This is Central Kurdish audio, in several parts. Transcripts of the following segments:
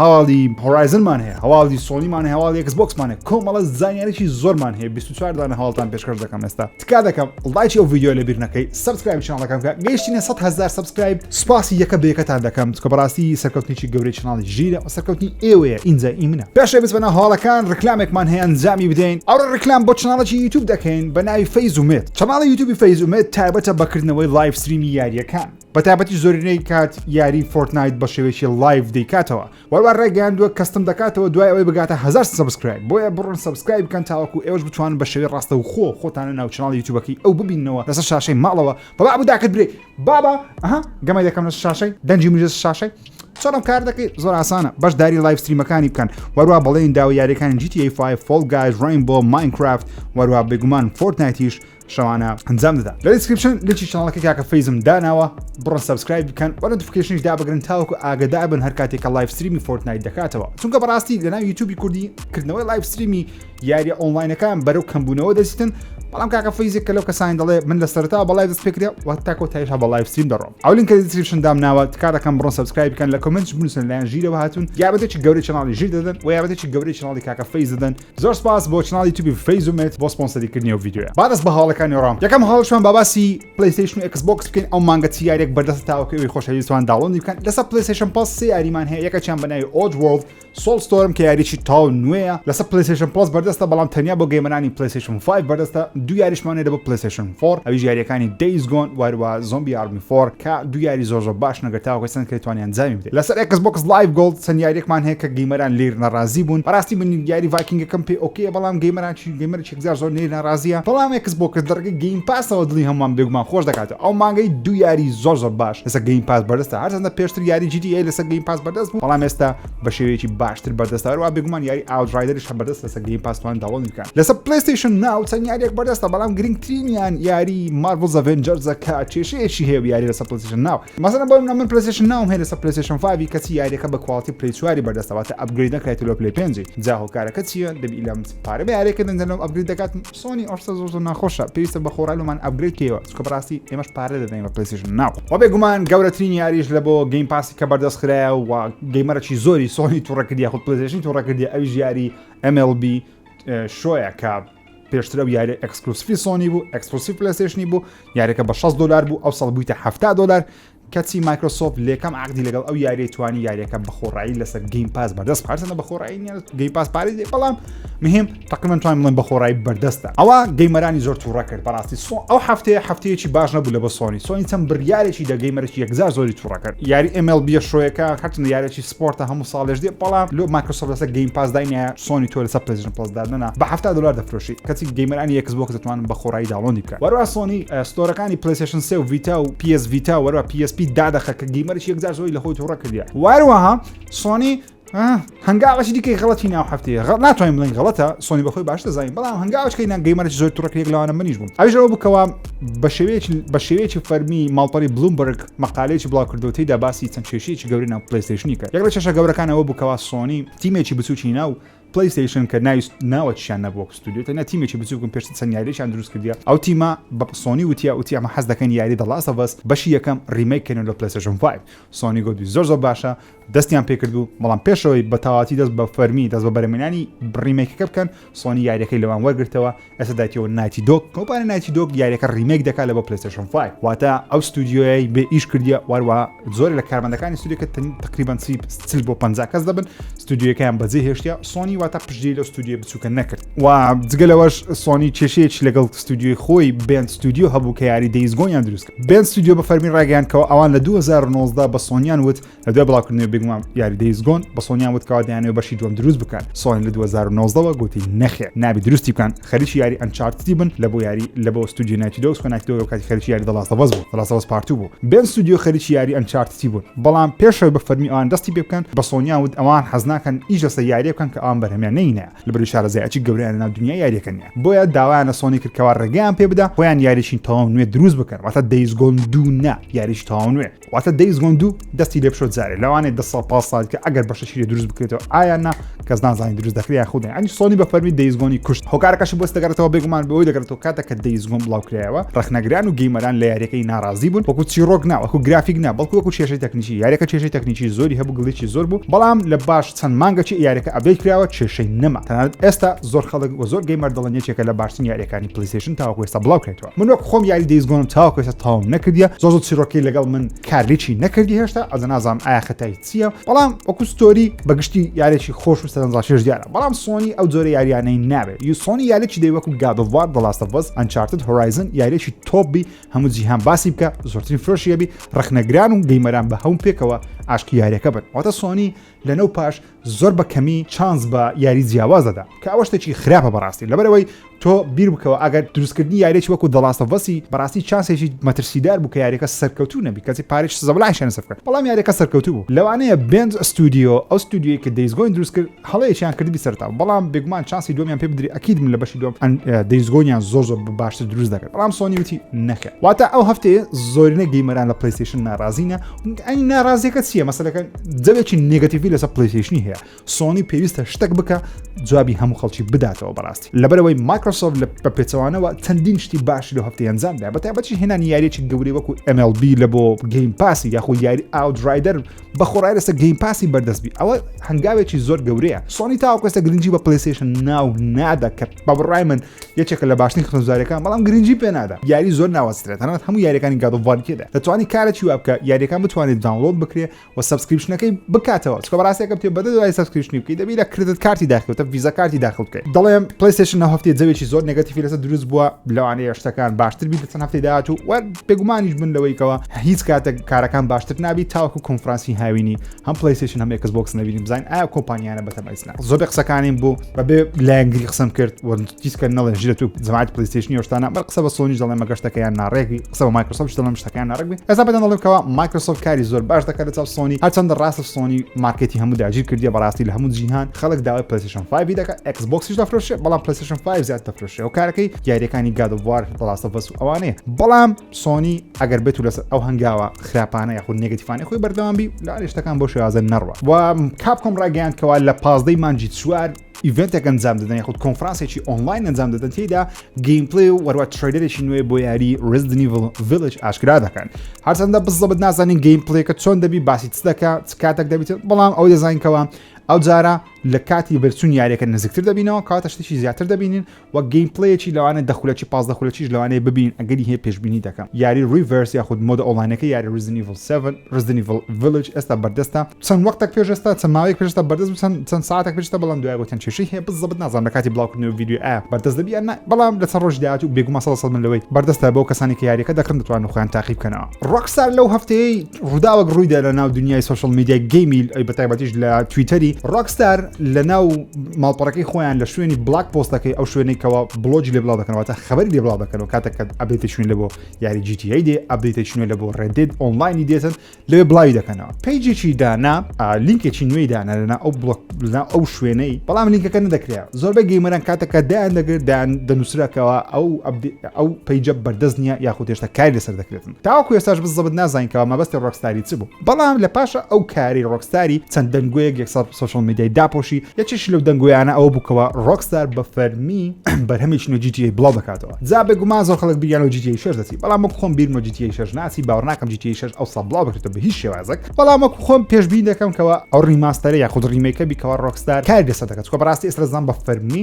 هەواڵی هۆرایزنمان هەیە هەواڵی سۆنیمان هەیە هەواڵی ئێکس بۆکسمان هەیە کۆمەڵە زانیاریی زۆرمان هەیە 24 دانە هەواڵتان پێشکەش دەکەم ئێستا تکا دەکەم لایکی ئەو ڤیدیۆ لە بیر نەکەی سەبسکرایب چناڵەکەم کە گەیشتینە 100 هەزار سەبسکرایب سوپاسی یەکە بە یەکەتان دەکەم چکە بەڕاستی سەرکەوتنێکی گەورەی چناڵی ژیرە و سەرکەوتنی ئێوەیە ئینجا ئی منە پێشێ بچمەنە هەواڵەکان ڕیکلامێکمان هەیە ئەنجامی بدەین ئەوڕۆ ڕیکلام بۆ چناڵێکی یوتیوب دەکەین بە ناوی فەیز و مێد چناڵی یوتیوبی فەیز و مێد تایبەتە بە کردنەوەی لایڤ ستریمی یارییەکان بەتابەتی زۆرینەی کات یاری فۆرتنایت بە شێوێکی لایڤ دەیکاتەوە وەروار ڕێگەیاندووە کەستم دەکاتەوە دوای ئەوەی بگاتە هزار سبسکرایب بۆیە بڕن سبسکرایب بکەن تاوەکو ئێوەش بتوان بە شێوی ڕاستە و خۆ خۆتانە ناوچناڵی یوتوبەکەی ئەو ببینەوە لەسەر شاشەی ماڵەوە بەڵا بوداکت برێ بابا ئەها گەمە دەکەم لە شاشەی دەنجی مژێس شاشەی چۆنم کار دەکەی زۆر ئاسانە بەشداری لایف ستریمەکانی بکەن وەروە بەڵێن داوە یاریەکانی جیتی فای فۆل گایز ڕین بۆ ماینکرافت وەروە بگومان فۆرتنایتیش شەوانە ئەنجام دەدا لە دیسکرپشن لچی چناڵەکە کاکە فەیزم داناوە بڕۆن سەبسکرایب بکەن وە نۆتیفیکەیشنیش دابگرن تاوەکو ئاگەدار بن هەر کاتێک کە لایڤ ستریمی فۆرتنایت دەکاتەوە چونکە بەڕاستی لەناو یوتیوبی کوردی کردنەوەی لایڤ ستریمی یاریە ئۆنلاینەکان بەرەو کەمبوونەوە دەچیتن بەڵام کاکە فەیزێک کە لەو کەسانی دەڵێ من لە سەرتا بە لایڤ دەست پێ کرێ وە تاکۆ تایشا بە لایڤ ستریم دەڕۆم ئەو لینکە لە دیسکریپشن دام ناوە تکاتەکەم بڕۆن سەبسکرایب بکەن لە کۆمنتش بنووسن لایەن ژیرەوە هاتوون یارمەتێکی گەورەی چەناڵی ژیر دەدەن و یارمەتێکی گەورەی چەناڵی کاکە فەیز دەدەن زۆر سپاس بۆ چناڵی توبی فەیز و مێت بۆ سپۆنسەری کردنی ئەو ڤیدیۆیە با دەست بە هەواڵەکانی وەڕام یەکەم هەواڵشمان با باسی پلەیستەیشن و ئێکس بۆکس بکەین ئەو مانگە چ یاریەک بەردەستە تاوەکو ئەوی خۆشەویستوان داوڵۆندی بکەن لەسەر پلەیستەیشن پڵەس سێ یاریمان هەیە یەکەکیان بە ناوی ئۆج وۆڵد سۆڵ ستۆرم کە یاریی تاو نوێیە لەسەر پلەیستەیشن پڵەس بەردەستە بەڵام تەنیا بۆ گەیمەرانی پلەیستەیشن 5 بەردەستە دوو یاریشمانەیە بۆ پلەیستەیشن 4 ئەویش یاریەکانی دەیز گۆن واروا زۆمبی ئارمی فۆر کە دوو یاری زۆر زۆر باشن ئەگەر تاوەکە چەند کرێ توانی ئەنجامی بدەی لەسەر ئێکس بۆکس لایڤ گۆڵد چەند یاریەکمان هەیە کە گەیمەران لیر ناڕازی بوون بەڕاستی من یاری ڤایکینگەکەم پێ ئۆکەیە بەڵام گەیمەران چی گەیمەر چێکزار زۆر لیر ناڕازیە بەڵام ئێکس بۆکس دەڕگەی گەیم پاسەوە دڵی هەمووان بێگومان خۆش دەکاتەوە ئەو مانگەی دوو یاری زۆر زۆر باش لەسەر گەیم پاس بەردەستە هەرچەندە پێشتر یاری جی تی ئەی لەسەر گەیم پاس بەردەست بوو بەڵام ئێستا بە شێوەیەکی باشتر بەردەستە هەروە بێگومان یاری ئاودرایدەریش هە بەردەست لەسە گەیم پاسوان داوڵ بکە لەسە پلیستیشن ناو چەند یاریێک بەردەستە بەڵام گرنگترینیان یاری ماربڵ زەڤێنجەرزەکە کێشەیەکی هەیە یاری لەسە پلیستیشن ناو مەسەنە بۆ منە من پلیستیشن ناوم هەیە لەسە پلیستیشن فاوی کەچی یاریەکە بە کواڵتی پلی چواری بەردەستەواتە ئەبگری نەکرێت لۆ پلی پێنجی جا هۆکارەکە چییە دەبی لەم پارە یارێکە دەنگەنەوە ئەبگری دەکات سۆنی ئەو شتە زۆر زۆر ناخۆشە پێویستە بە خۆڕای لۆمان ئەپگرێد کەیەوە چکە بەڕاستی ئێمەش پارە دەدەین بە پلەیستێشن ناو وە بێگومان گەورەترین یاریش لە بۆ گەیم پاسی کە بەردەست خرایە و گەیمەرەکی زۆری سۆنی توڕە کردی یاخود پلەیستێشنی توڕە کردی ئەویش یاری MLB شۆیە کە پێشتر ئەو یاری ئەکسکلوسیفی سۆنی بوو ئەکسکلوسیف پلەیستێشنی بوو یاریەکە بە 6 دلار بوو ئەو سەڵ بوویتە 70 دلار کەچی مایکرۆسۆفت لەکەم عەقدی لەگەڵ ئەو یاریەی توانی یاریەکە بەخۆڕایی لەسەر گەیم پاس بەردەست هەرچەندە بەخۆڕایی نیە گەیم پاس پارەی دێ بەڵام مهم تقریبا توانم بڵێم بەخۆڕایی بەردەستە ئەوە گەیمەرانی زۆر تووڕە کرد بەڕاستی سۆ ئەو هەفتەیە هەفتەیەکی باش نەبوو لە بۆ سۆنی سۆنی چەند بڕیارێکی دە گەیمەرێکی یەکجار زۆری تووڕە کرد یاری MLB شۆیەکە هەرچەندە یارێکی سپۆرتە هەموو ساڵێش دێ بەڵام لۆ مایکرۆسۆفت لەسەر گەیم پاس داینە سۆنی تۆ لەسەر پلەیستێشن پڵەس دادەنا بە 70 دلار دەفرۆشی کەچی گەیمەرانی یەکس بۆکس دەتوانن بە خۆڕایی داڵۆندی بکەن وەروا سۆنی ستۆرەکانی پلەیستێشن سێ و ڤیتا و PS ڤیتا وەروا PSP دادەخە کە گەیمەرش یەکجار زۆری لە خۆی تووڕە کردیە واروەها سۆنی هەنگاوەشی دیکەی غڵەتی ناو هەفتەیە غڵ ناتوانین بڵین غڵەتە سۆنی بەخۆی باش دەزانین بەڵام هەنگاوچکەی نان گەیمەرش زۆر توڕکرێک لەوانە منیش بووم ئەژەوە بکەوە بە شێوەیەکی بە شێوەیەکی فەرمی ماڵپەری بلومبرگ مەقالەیەکی بڵاوکردەوە تێیدا باسی چەند کێشەیەکی گەورەی ناو پلەیستەیشنی کرد یەک لە کێشە گەورەکان ئەوە بوو کەوا سۆنی تیمێکی بچووکی ناو پلەیستەیشن کە ناوی ناوەکیشیان نەبوو وەک ستودیۆ تەنیا تیمێکی بچووک بوون پێشتر چەند یاریێکیان دروست کردیە ئەو تیمە بە سۆنی وتیە وتی ئەمە حەز دەکەین یاری دە لاست ئەڤ ئەس بەشی یەکەم ڕیمەیک کەین و لە پلەیستەیشن فایڤ سۆنی گوتی زۆر زۆر باشە دەستیان پێکردبوو بەڵام پێشەوەی بە تەواتی دەست بە فەرمی دەست بە بەرەمێنانی بڕیمێکەکە بکەن سۆنی یاریەکەی لەوان وەرگرتەوە ئێستا دایتەوە نایتی دۆک کۆپانە نایتی دۆک یاریەکە ریمێک دەکات لە بۆ پلیستشن فای واتە ئەو ستودیۆی بێ ئیش کردە واروا زۆر لە کارمەندەکانی سودێکە تقریبان چل بۆ پ کەس دەبن ستودیوەکەیان بەجێ هێشتە سۆنی واتە پشتی لە ستودیو بچووکە نەکرد و جگەلەوەش سۆنی کێشەیەکی لەگەڵ ستودیوی خۆی بێن ستودیو هەبوو کە یاری دەیزگۆنیان دروست بێن ستودیۆ بە فەرمی ڕاگەیان کەەوە ئەوان لە 2019 بە سۆنیان وت لە دوای بڵاوکردنەوە بگومان یاری دەیزگۆن بە سۆنیان وتکەوا دەیانەوە بەشی دوم دروست بکەن سۆنی لە 2019ەوە گوتی نەخێ نابی دروستی بکەن خەریکی یاری ئەنچارتی بن لە بۆ یاری لە بۆ ستودیو نایتی دەوس نایتەوە کاتی خەریکی یاری دەڵاستە بەس بوو دەڵاستەوەز پارتو بوو بێن ستودیو خەریکی یاری ئەنچارتی بوون بەڵام پێشەوە بە فەرمی ئەوان دەستی پێ بکەن بە سۆنیان وت ئەوان حەزناکەن ئیش لەسە یاریەکەن کە ئەوان بەرهەمیان نینە لەبەروی شارەزایەچی گەورەیان لەناو دنیای یاریەکە نیە بۆیە داوایان لە سۆنی کرد کەوا ڕێگەیان پێ بدا خۆیان یاریشین تەواو نوێ دروست بکەن واتە دەیزگۆن دوو نا یاریش تەواو نوێ واتە دەیزگۆن دوو دەستی لێ بشۆ جارێ لەوانێ دە ساڵ پاس ساڵ کە ئەگەر بەشە شیری دروست بکرێتەوە ئایا نا کەس نازانی دروست دەکرێت خودێن ئەنی سۆنی بە فەرمی دەیزگۆنی کوشت هۆکارەکەش بۆست دەگەڕێتەوە بێگومان بەوەی دەگەڕێتەوە کاتە کە دەیزگۆن بڵاو کرایەوە ڕخنەگران و گەیمەران لە یاریەکەی ناڕازی بوون وەکو چیرۆک ناوەکو گرافیک نا بەڵکو وەکو شێشەی تەکنیکی یاریەکە کێشەی تەکنیکی زۆری هەبوو گڵیی زۆر بوو بەڵام لە باش چەند مانگەچی یاریەکە ئەپدەیت کراوە کێشەی نەما تەنانەت ئێستا زۆر خەڵک وە زۆر گەیمەر دەڵێن یەکێکە لە باشترین یاریەکانی پلیستیشن تاوەکو ئێستا بڵاو کرێتەوە من وەک خۆم یاری دەیز گۆنم تاوەکو ئێستا تاوم نەکردیە زۆر زۆر چیرۆکی لەگەڵ من کارلیچی نەکردی هێشتا ئەزە نازانم ئایا خەتای چییە بەڵام وەکو ستۆری بەگشتی یارێکی خۆش و سەرنجڕاکێش دیارە بەڵام سۆنی ئەو جۆرە یاریانەی ناوێت یوسۆنی یاریی دەی وەکو گادۆڤار دەڵاستەڤەز ئەنچارتت هۆرایزن یاریێکی تۆبی هەموو جیهان باسی بکە زۆرترین فرۆشی ئەبی ڕخنەگران و گەیمەران بە هەوم پێکەوە ئاشقی یاریەکە بن واتە سۆنی لەنەو پاش زۆر بە کەمی چانس بە یاری جیاواز دەدا کە ئەوە شتێکی خراپە بەڕاستی لەبەرەوەی تۆ بیر بکەوە ئەگەر دروستکردنی یاریی وەکو دەڵاستە بەسی بەڕاستی چانسێکی مەترسیدار بوو کە یاریەکە سەرکەوتو نەبی کەسی پارێک زەبلاشێن سەر بکەن بەڵام یاریەکە سەرکەوتو بوو لەوانەیە بنج ستودیو ئەو ستودیوی کە دەیزگۆین دروست کرد هەڵەیەکیان کردبی سەرەتاوە بەڵام بێگومان چانسی دووەمیان پێ بدری ئەکید من لە بەشی دووەم ئەن دەیز گۆنیان زۆر زۆر باشتر دروست دەکرد بەڵام سۆنی وتی نەخێر واتا ئەو هەفتەیە زۆرینە گەیمەران لە پلەیستەیشن ناڕازینە ئەی ناڕازیەکە چییە مەسەلەکە جەوێکی نێگەتیڤی لەسەر پلەیستەیشنی هەیە سۆنی پێویستە شتەک بکە جوابی هەموو خەڵکی بداتەوە بەڕاستی لەبەرەوەی مایکرۆسۆفت لە بە پێچەوانەوە چەندین شتی باشی لە هەفتەی ئەنجامدا بە تایبەتی هێنانی یاریەکی گەورەی وەکو MLB لە بۆ گەیم پاسی یاخۆ یاری ئاوت ڕایدەر بە خۆڕای لەسە گەیم پاسی بەردەستبی ئەوە هەنگاوێکی زۆر گەورەیە سۆنی تاوکەسە گرنگجی بە پلیسیشن ناو نادا کە بە بڕای من یەکێکە لە باشترین خزارەکان بەڵام گرنگجی پێنادا یاری زۆر ناوەسترێت تەنات هەموو یاریەکانی گادوڤارکێدا دەتوانانی کارێکی وابکە یاریەکان بتوانێت داونلۆد بکرێ و سبسکرپشنەکەی بکاتەوە چکە بەڕاستەکە پێ بەدە دوای سبسکرپشنی بکەی دەبی لە کردت کارتی داخلتە ویزا کارتی داخلکە دەڵێم پلیسیشن هەفتێ جەوێکی زۆر نگەتیفی لەسە دروست بووە لەوانەیە شتەکان باشتر بیت چەند هەفتەی داهات و بێگومانیش بن لەوەی کەەوە هیچ کاتێک کارەکان باشتر نابی تاوەکو کۆنفرانسی هاوینی هەم پلیسیشن هەم ئەکس بۆکس نبینیم بزین ئایا کۆمپانیانە بەتەمەزنا زۆر قسەکانیم بوو بەبێ لایەنگری قسم کرد وەنجیسکە نەڵێ ژرە تو زمات پلیسیشنی شتانە بەر قسە بە سۆنی دەڵێ مەگەشتەکەیان ناڕێکی قسە بە مایکرۆسۆفت دەڵم شتەکان ناڕێک ئەسا بەدەن دەڵێکەوە مایکرۆسۆفت کاری زۆر باش دەکات لە چاو سۆنی هەرچەندە ڕاستە سۆنی مارکێتی هەموو داگیر کردی بەڕاستی لە هەموو جیهان خەڵک داوای پلیسیشن 5 دەکە ئەکس بۆکسیش دەفرۆشێ بەڵام پلیسیشن 5 زیاد دەفرۆشێ و کارەکەی یاریەکانی گادوار ڕاستە بەس ئەوانەیە بەڵام سۆنی ئەگەر بێت و لەسەر ئەو هەنگاوە خراپانە یاخود نگەتیفانانی خۆی بەردەوامبی لا شتەکان بۆ شێوازن نەڕوە و کاپکۆم ڕاگەیان کەوا لە پازدەی مانجی چوار ئیڤنتێک ئەنجام دەدەن یاخود کۆنفرانسێکی ئۆنلاین ئەنجام دەدەن تێدا گەیمپلی و وەروە تریدەرێکی نوێ بۆ یاری ڕزدنی ڤلج ئاشکرا دەکەن هەرچەندە بزەبت نازانین گەیمپلەکە چۆن دەبی باسی چ دەکە چ کاتێک دەبیت بەڵام ئەو دەزانکەوە ئەو جارە لە کاتی بەرچون یاریەکە نزیکتر دەبینەوە کاتە شتێکی زیاتر دەبینین وە گەیمپلەیەکی لەوانەیە دە خولەکی پازدە خولەکیش لەوانەیە ببینین ئەگەری هەیە پێشبینی دەکەم یاری ڕیڤەرس یاخود مۆدە ئۆنڵاینەکەی یاری ڕیزدن ئیڤڵ سێڤن ڕیزدن ئیڤڵ ڤیلەج ئێستا بەردەستە چەند وەختێک پێش ئێستا چەند ماوەیەک پێش ئێستا بەردەست چەند چەند ساتێک پێش ئێستا بەڵام دوای گوتن کێشەی هەیە بزەبت نازانم لە کاتی بڵاوکردنەوەی ڤیدیۆ ئایا بەردەست دەبی یان نا بەڵام لە چەند ڕۆژی داهاتوو بێگومان سەد لە سەد من لەوەی بەردەستە بۆ کەسانی کە یاریەکە دەکڕن دەتوانن خۆیان تاقی بکەنەوە ڕۆکستار لەو هەفتەیەی ڕووداوێک ڕوویدا لە ناو دنیای سوشل میدیای گەیمیل ئەی بەتایبەتیش لە تویتەری ڕۆکستار لە ناو ماڵپەڕەکەی خۆیان لە شوێنی بلاک پۆستەکەی ئەو شوێنەی کەەوە بلۆجی لێ بڵاو دەکەنەوەتە خبری لێ بڵاو دەکەنەوە کاتەکە ئەبێتشون لە بۆ یاری جیتیی دێ ئەبێتشونە لە بۆ ڕێدێت ئۆنلاینی دێتن لێ بڵاوی دەکەنەوە پیجێکی دانا لینکێکی نوێی دانا لەنا ئەو بڵۆک لەنا ئەو شوێنەی بەڵام لینکەکە نەدەکرێت زۆربەی گەیمەران کاتەکە دایان دەگردان دەنووسراکەوە ئەو ئەو پیجە بەردەست نیە یاخود هێشتا کاری لەسەر دەکرێتن تاوەکو ئێستاش بززبت نازانین کەوا مەبەستی ڕۆکستاری چ بوو بەڵام لە پاشە ئەو کارەی ڕۆکستاری چەند دەنگۆیەک یەکسەر سۆشیاڵ میدیای داپۆشی یەکێکیش لەو دەنگۆیانە ئەوە بوو کەوا ڕۆکستار بە فەرمی بەرهەمێکی نوێ جی تی ئەی بڵاو دەکاتەوە جا بێگومان زۆر خەڵک بیریان لۆ جی تی ئەی شەش دەچی بەڵام وەکو خۆم بیرم لۆ جی تی ئەی شەش ناچی باوەڕ ناکەم جی تی ئەی شەش ئەوسا بڵاو بکرێتەوە بە هیچ شێوازێک بەڵام وەکو خۆم پێشبینی دەکەم کەوا ئەو ڕیماستەرە یاخود ڕیمەیکە بی کەوا ڕۆکستار کاری لەسەر دەکات چونکە بەڕاستی ئێستا دەزانم بە فەرمی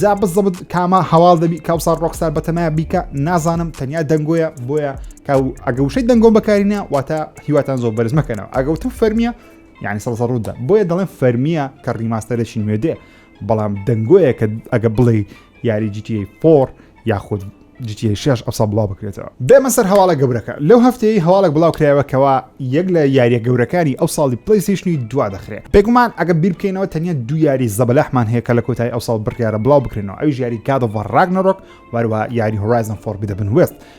جا بزەبت کامە هەواڵ دەبی کاوسار ڕۆکسار بەتەمای بیکە نازانم تەنیا دەنگۆیە بۆیە کاو ئەگە وشەی دەنگۆم بەکارینە واتە هیواتان زۆر بەرز مەکەنەوە ئەگەوت و فەرمیە یعنی سەڵ ڕوودا بۆیە دەڵێن فەرمیە کە ڕیماستەرێکی نوێ دێ بەڵام دەنگۆیە کە ئەگە بڵێ یاری جیتی فۆر یاخود جیتیەی شش ئەسا بڵاو بکرێتەوە بێمە سەر هەواڵە گەورەکە لەو هەفتەیە هەواڵێک بڵاو کرایەوە کەەوە یەک لە یاریە گەورەکانی ئەو ساڵی پلیسیشنی دوا دەخرێت بێگومان ئەگە بیر بکەینەوە تەنیا دو یاری زەبلەحمان هەیە کە لە کۆتای ئەو ساڵ بڕیاە بڵاو بکرێنەوە ئەوی یاری کادەوە ڕاگنەڕۆک وەروە یاری هۆرایزن فۆربی دەبن وێست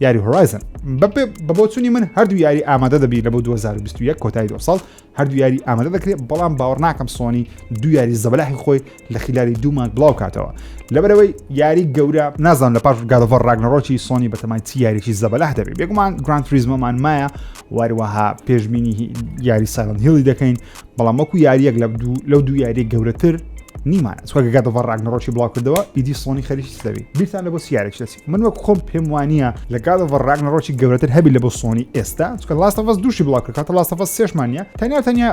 یاری هۆرایزن بەپێ بە بۆچوونی من هەردوو یاری ئامادە دەبی لە بۆ 2021 کۆتایی دو ساڵ هەردوو یاری ئامادە دەکرێت بەڵام باوەڕ ناکەم سۆنی دو یاری زەبلاحی خۆی لە خلاری دوومان بڵاو کاتەوە لەبەرەوەی یاری گەورە نازان لە پاش گادەڤەر ڕاگنەڕۆکی سۆنی بەتەمای چی یاریی زەبلاح دەبێت بێگومان گرانت فریزمەمان مایە واروەها پێشببینی یاری سایلند هیڵی دەکەین بەڵام وەکو یاریەک لە لەو دوو یاری گەورەتر نیمانە چۆگە گادەڤەر ڕاگنەڕۆکی بڵاو کردەوە ئیدی سۆنی خەریکی دەبێت بیرتان لە بۆ سیارێک دەچێت من وەک خۆم پێم وانە لە گادەوە ڕاگنەڕۆکی گەورەتر هەبی لە بۆ سۆنی ئێستا چکە لاستەفەس دووشی بڵاکەکەتە لاستەفەس سێشمانە تەنیا تەنیا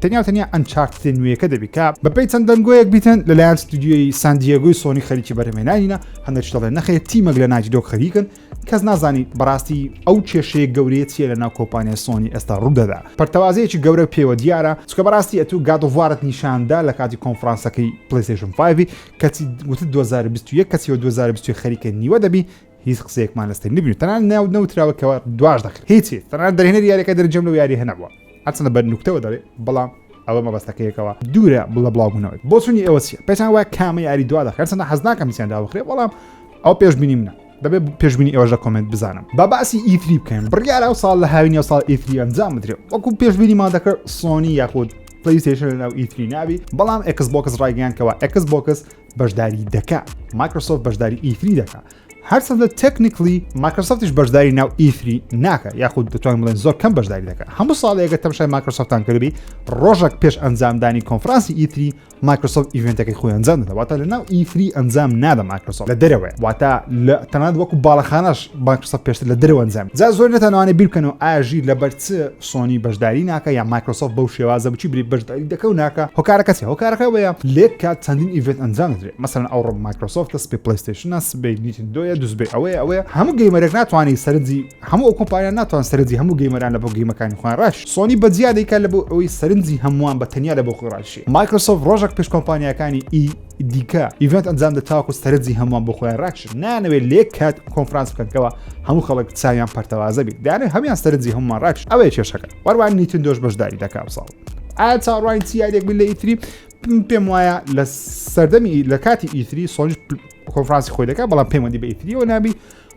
تەنیا تەنیا ئەنچارتێ نوێیەکە دەبیکە بەپی چەند دەنگۆیەک بیتن لەلایەن ستودیۆی ساندیەگوی سۆنی خەریکی بەرەمێنانینە هەندێک شڵێ نەخێت تیمەک لە ناجی دۆک خەریکن کەس نازانی بەڕاستی ئەو کێشەیە گەورەیە چیە لە ناو کۆپانیای سۆنی ئێستا ڕوودەدا پرتەوازەیەکی گەورە پێوە دیارە چکە بەڕاستی ئەتو گادوارت نیشاندا لە کاتی کۆنفرانسەکەی پلیسیشن 5 کەچی وتت دو هەزار و بیست و یەک کەچی وە دو هەزار و بیست و یەک خەریکە نیوە دەبی هیچ قسەیەکمان لەسەر نبینی تەنانەت ناوت نەوتراوە کەوا دواش دەکرد هیچی تەنانەت دەرهێنەری یاریەکە دەرەجەم لەو یارییە نەبووە هەرچەندە بە نوکتەوە دەڵێ بەڵام ئەوە مەبەستەکەیەکەوە دوورە بڵە بڵاوبوونەوەی بۆچوونی ئێوە چییە پێتان وایە کامە یاری دوا دەخرێت هەرچەندە حەز ناکەم هیچیان دابخرێت بەڵام ئەو پێشبینیم نە دەبێ پێشبینی ئەوەش لە کۆمنت بزانم با باسی ئیتری بکەین بڕیارە و ساڵ لە هاوین یا ساڵ ئیتری ئەنجام بدرێت وەکو پێشبینی ما دەکرد سۆنی یاخود پلیسیشن لەناو ئیتری ناوی بەڵام ئەکس بۆکس ڕایگەیان کەەوە ئەکس بۆکس بەشداری دەکا مایکرۆسۆف بەشداری ئیتری دەکا هەرسە لە تەکنیکلی ماکرسفتیش بەشداری ناو ئیفری ناکە یاخود دەتوان بڵێن زۆر کەم بەشداری دەکە هەموو ساڵێکە تەمشای ماکرسفتان کردبی ڕۆژێک پێش ئەنجامدانی کۆنفرانسی ئیتری مایکرۆسۆفت ئیڤنتەکەی خۆی ئەنجام دەدا واتە لە ناو ئیفری ئەنجام نادە مایکرۆسۆفت لە دەرەوەی واتە لە تەنات وەکو باڵەخانەش مایکرۆسۆفت پێشتر لە دەرەوە ئەنجام جا زۆر نەتانوانێ بیرکەنەوە ئاژی لە بەرچ سۆنی بەشداری ناکە یا مایکرۆسۆفت بەو شێوازە بچی بری بەشداری دەکە و ناکە هۆکارەکە چی هۆکارەکە وەیە لێک کات چەندین ئیڤێت ئەنجام درێت مەسەن ئەو ڕۆ مایکرۆسۆفت سپی پلیستشنە سبەی نیتن دۆیە دوزبێ ئەوەیە ئەوەیە هەموو گەیمەرێک ناتوانانی سەرنجی هەموو ئەو کۆمپانیان ناتوان سەرنجی هەموو گەیمەران لە بۆ گەیمەکانی خۆیان ڕاش سۆنی بە جیا دەیکات لە بۆ ئەوەی سەرنجی هەمووان بە تەنیا لە بۆ خۆی ڕاکشێ مایکرۆسۆفت ڕۆژەک پێش کۆمپانیاکانی ئی دیکە ئیڤێنت ئەنجام دە تاکو سەرنجی هەمووان بۆ خۆیان ڕاکشن نانەوێت لێک کات کۆنفرانس بکەن کەوا هەموو خەڵک چاویان پەرتەوازە بیت دانێ هەموان سەرنجی هەمووان ڕاکش ئەوەیە کێشەکە وەروان نیتن دۆش بەشداری دەکا ئەمساڵ ئا چاڕوانی چی یادێک من لە ئیتری پێم وایە لە سەردەمی لە کاتی ئیتری سۆنج کۆنفرانسی خۆی دەکات بەڵام پەیوەندی بە ئیتریەوە نابی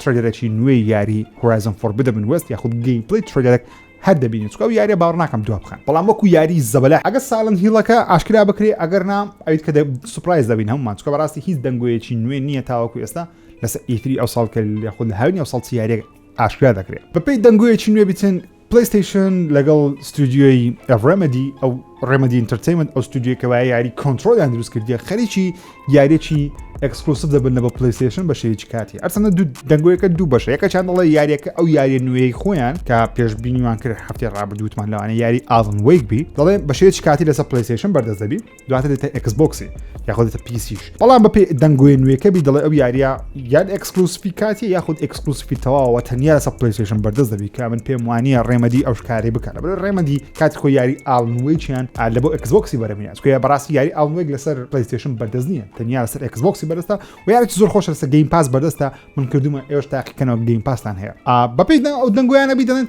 ترەیلەرەکی نوێی یاری هۆرایزن فۆر بدەبن وێست یاخود گەیمپلەی ترەیلەرەک هەر دەبینین چکە ئەو یاریە باوەڕ ناکەم دوا بخەن بەڵام وەکو یاری زەبەلاح ئەگەر سایلنت هیڵەکە ئاشکرا بکرێ ئەگەر نا ئەویت کە سوپرایز دەبین هەموومان چکە بەڕاستی هیچ دەنگۆیەکی نوێ نییە تاوەکو ئێستا لەسەر ئیتری ئەو ساڵ کە یاخود لە هاوینی ئەو ساڵ چی یاریێک ئاشکرا دەکرێت بەپی دەنگۆیەکی نوێ بچن پلەیستەیشن لەگەڵ ستودیۆی ڕێمەدی ئەو ڕێمەدی ئینتەرتەیمنت ئەو ستودیۆ کەوای یاری کۆنتترۆلیان دروست کردیە خەریکی یاریەکی ئەکسکلوسف دەبن لە بە پلیستشن بە شێوی کاتی ئەرسەنە دوو دەنگۆیەکە دوو بەشە یەکە چند دەڵێ یاریەکە ئەو یاریە نوێی خۆیان کە پێشببینیوان کرد هەفتی ڕابردووتمان لەوانە یاری ئاڵن وەیکبی دەڵێ بە شێوی کاتی لەسەر پلیستشن بەردەست دەبی دواتر دێتە ئەکس بۆکسی یاخۆ دێتە پیسیش بەڵام بەپی دەنگوێ نوێکە بی دەڵێ ئەو یاریە یان ئەکسکلوسفی کاتی یاخود ئەکسکلوسفی تەواوە تەنیا لەسە پلیسیشن بەردەست دەبی کە من پێم وانە ڕێمەدی ئەو شکاری بکەن بە ڕێمەدی کات خۆ یاری ئاڵنوێکیان لە بۆ ئەکسبکسی بەرەمیان چکە بەڕاستی یاری ئاڵنوێک لەسەر پلیسیشن بەردەست نیە تەنیا لەسەر ئەکسبکسی بەرستا و یارێکی زۆر خۆش لەسە گەیم پاس بەردەستە من کردومە ئێوش تاقیکەنەوە گەیم پاسان هەیە بەپی ئەو دەنگویانە بی دەڵێن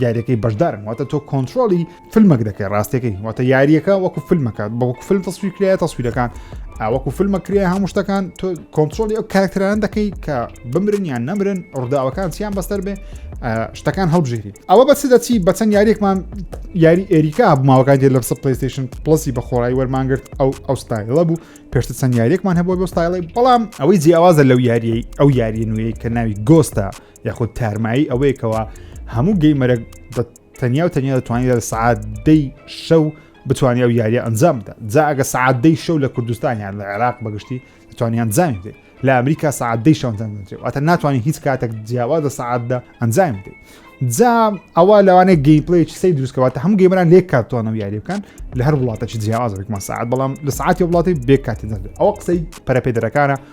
یاریەکەی بەشدارن واتە تۆ کۆنتترۆلی فیلمەک دەکەی ڕاستەکەی واتە یاریەکە وەکو فیلمەکات بە وەکو فیلم تەسویر کرایە تەسویرەکان ئاوەکو فیلمە کرێ هەموو شتەکان تۆ کۆنتترۆلی ئەو کارکتران دەکەی کە بمرن یان نەمرن ڕداوەکان چیان بەستەر بێ شتەکان هەڵبژێری ئەوە بە چ دەچی بەچەند یاریێکمان یاری ئێریکا بماوەکان دێ لە پسە پلیستشن پلسی بە خۆڕای وەرمانگرت ئەو ئەو ستایلە بوو پێشتە چەند یاریێکمان هەبوو بۆ ستایڵی بەڵام ئەوەی جیاوازە لەو یاریەی ئەو یاریە نوێی کە ناوی گۆستە یاخود تارمایی ئەوەیە کەەوە هەموو گەیمەرە بە تەنیا و تەنیا دەتوانانی لە سعات دەی شەو بتوانانی ئەو یاریە ئەنجام بدە جا ئەگە سعات دەی شەو لە کوردستان یان لە عێراق بەگشتی دەتوانانی ئەنجامی بدەیت لە ئەمریکا سعات دەی شەوەنجام دەێت ئەتە ناتوانانی هیچ کاتێک جیاواز لە سعاتدا ئەنجام بدەیت جا ئەوە لەوانەیە گەیمپلیچ سی دروستکەواتە هەم گەیمران لێک کاتوانە و یاری بکەن لە هەر وڵاتەی جیاوازێکمان سعات بەڵام لە سعاتی وڵاتی بێ کاتی دەێت ئەو قسەی پەرپێدرەکانە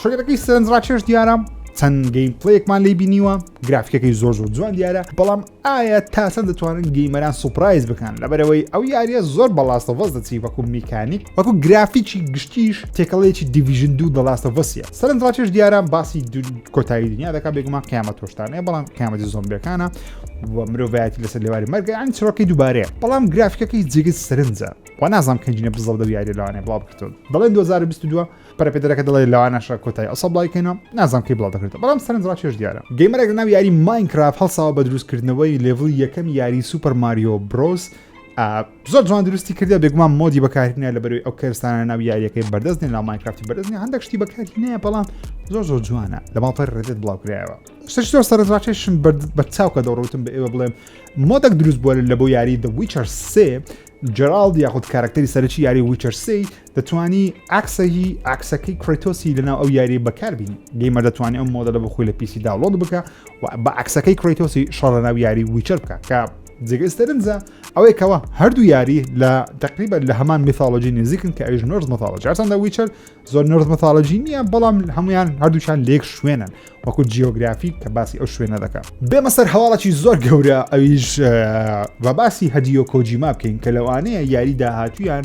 چۆگەرەکەی سەرنجڕاکێش دیارە چەند گەیم پلەیەکمان لی بینیوە گرافیکەکەی زۆر زۆر جوان دیارە بەڵام ئایا تاسە دەتوانن گەیمەران سوپرایز بکەن لەبەرەوەی ئەو یاریە زۆر بەڵاستە وەز دەچی وەکو میکانیک وەکو گرافیکی گشتیش تێکەڵێکی دیڤژن دوو دەڵاستە وەسیە سەرنجڕاکێش دیارە باسی کۆتایی دنیا دەکات بێگومان قیامەت تۆشتانەیە بەڵام قیامەتی زۆمبیەکانە و مرۆڤایەتی لەسەر لێواری مەرگە ئەنج چڕۆکی دووبارەیە بەڵام گرافیکەکەی جێگەی سەرنجە و نازانام کەنجینە بزڵ دە یاری لەوانێ بڵاو بکردون دەڵێن 2022 پەرەپێدەرەکە دەڵێ لەوانەشە کۆتای ئەو سەبڵای کەینەوە نازانم کەی بڵاو دەکرێتەوە بەڵام سەرنج ڕاکێش دیارە گەیمەرێک لە ناو یاری ماینکرافت هەڵساوە بە دروستکردنەوەی لێڤڵی یەکەمی یاری سوپەر ماریۆ برۆس زۆر جوان دروستی کردە بێگومان مۆدی بەکارینە لە بەروی ئەو کەرستانە ناو یاریەکەی بەردەست نێ لامایکرافتی بەردەستنی هەندێک شتی بەکارینەیە بەڵام زۆر زۆر جوانە لە ماڵپەر ڕێدت بڵاوکرایەوە شتش زۆر سەرنجڕاکێشم بە چاوکە دەڕوتم بە ئێوە بڵێم مۆدەک دروست بووە لە بۆ یاری دە ویچەر سێ جرالد یاخود کارکتەری سەرکی یاری ویچەرسی دەتوانی عەکسە هی عەکسەکەی کرەیتۆسی لەناو ئەو یاریە بەکاربینی گەیمە دەتوانێت ئەم مۆدەلە بە خۆی لە پیسی داوڵۆت بکە و بە عەکسەکەی کرەیتۆسی شەڕ لەناو یاری ویچەر بکە کە جێگەی سەرنجە ئەوەی کەەوە هەردوو یاری لە تقریبا لە هەمان میثالۆجی نزیکن کە ئەویش نرز مەثالۆجی هەرچەندە ویچەر زۆر نرز مەثالۆجی نییە بەڵام هەمویان هەردووشان لێک شوێنن وەکو جیۆگرافی کە باسی ئەو شوێنە دەکە بێمە سەر هەواڵەکی زۆر گەورە ئەویش بە باسی هەدیۆ کۆجیما بکەین کە لەوانەیە یاری داهاتویان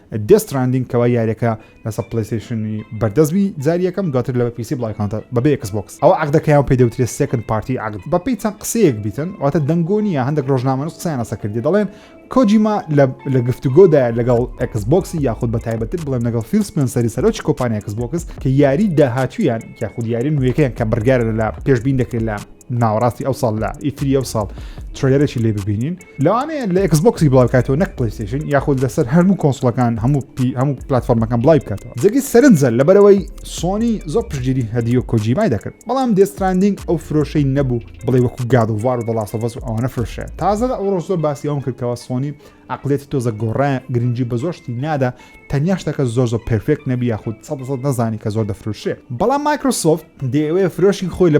دێس تراندینگ کەوا یاریەکە لەسەر پلەیستەیشنی بەردەست بی جاری یەکەم دواتر لە پیسی بڵایکانتە بەبێ ئێکس بۆکس ئەوە عەقدەکەیان پێ دەوترێت سێکند پارتی عەقد بەپێی چەند قسەیەک بیتن واتە دەنگۆ نییە هەندێک ڕۆژنامەنووس قسەیان لەسەر کردی دەڵێن کۆجیما لە گفتوگۆدایە لەگەڵ ئێکس بۆکسی یاخود بە تایبەتتر بڵێن لەگەڵ فیل سپێنسەری سەرۆکی کۆمپانیا ئێکس بۆکس کە یاری داهاتوویان یاخود یاری نوێیەکەیان کە بڕیارە لە پێشبین دەکرێت لە ناوەڕاستی ئەو ساڵ لە ئیتری ئەو ساڵ ترێلەرێکی لێ ببینین لەوانەیە لە ئکس بۆکسی بڵاو بکاتەوە نەک پلیستیشن یاخود لەسەر هەرموو کۆنسڵەکان هەموو پی هەموو پلتفۆرمەکان بڵای بکاتەوە جگی سەرنجە لەبەرەوەی سۆنی زۆر پشتگیری هەدیو کۆجیمای دەکرد بەڵام دێستراندنگ ئەو فرۆشەی نەبوو بڵێ وەکو گاد و وار و دەڵاسەڤەس و ئەوانە فرۆشە تازە لە ئەوڕۆ زۆر باسی ئەوم کردکەوە سۆنی عقلێتی تۆزە گۆڕە گرنگجی بە زۆرشتی نادا تەنیا شتەکە زۆر زۆر پرفێک نەبی یاخود سە نەزانی کە زۆر دەفروشێ بەڵام مایکرۆسۆفت دەیەوێ فرۆشی خۆی لە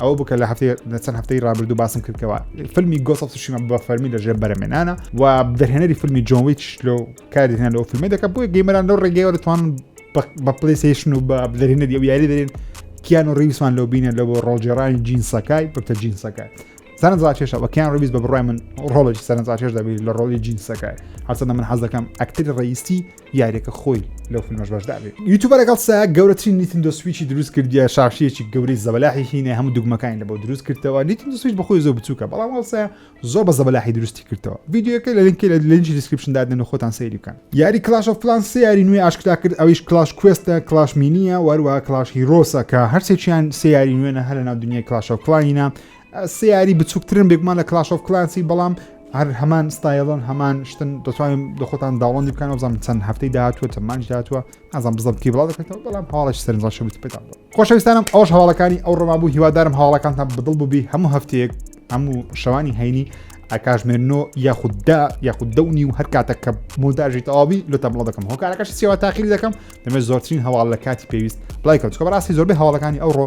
ئەوە بکە لە هەفتەی لە چەند هەفتەی رابردوو باسم کردەوە فیلمی گۆسە سوشیمە بە فەرمی لە ژێر بەرەمێنانە و دەرهێنەری فیلمی جۆنویچ لۆ کاردێنان لەو فیلمی دەکە بۆی گەیمەران لەو ڕێگەیەوە دەتوانن بە پلیسیشن و بە دەرهێنەری ئەو یاری دەرێن کیان و ڕیوسمان لەو بینە لە بۆ ڕۆژێڕانی جینسەکای بەتە جینسەکە سەرنجڕاکێشە وەکیان ڕویز بە بڕای من ڕۆڵێکی سەرنجڕاکێش دەبێت لە ڕۆڵی جینسەکە هەرچەندە من حەز دەکەم ئەکتری ڕئیسی یاریەکە خۆی لەو فیلمەش بەشدابێ یوتوبە لەگەڵ سا گەورەترین نیتندۆ سویچی دروست کردیە شاشەیەکی گەورەی زەبەلاحی هینە هەموو دوگمەکانی لە بۆ دروست کردەوە نیتندۆ سویچ بەخۆی زۆر بچووکە بەڵام هەڵسا زۆر بە زەبەلاحی دروستی کردەوە یددیوەکە لە لینکی لە لینجی دیسکرپشن دادن و خۆتان سەیری بکەن یاری کلاش و پلان سێ یاری نوێ ئاشکرا کرد ئەویش کلاش کوێستە کلاش مینیە وەروە کلاش هیرۆسە کە هەرسێکیان سێ یاری نوێنە هەر لە ناو دنیای کلاشە و کلاینە سێ یاری بچووکترن بێگومان لە کلاش ئۆف کلانسی بەڵام هەر هەمان ستایلۆن هەمان شتن دەتوانین دەخۆتان داوەندی بکەن بزانم چەند هەفتەی داهاتوە چەمانج داهاتوە ئازان بزم کی بڵاو دەکەێتەوە بەڵام هاڵش سەرنجڕاش بتپێتان خۆشەویستانم ئەوش هەواڵەکانی ئەو ڕما بوو هیوادارم هاوڵەکانتان بدڵ بووبی هەموو هەفتەیەک هەموو شەوانی هەینی ئەکاژمێرنۆ یاخوددا یاخود دەونی و هەر کاتە کە مۆداژی تەواوی لە تەمڵ دەکەم هۆکارەکەش سیوا تاخیری دەکەم دەمە زۆرترین هەواڵ لە کاتی پێویست بڵایکەوت کە بەڕاستی زۆربەی هەواڵەکانی ئەوڕۆ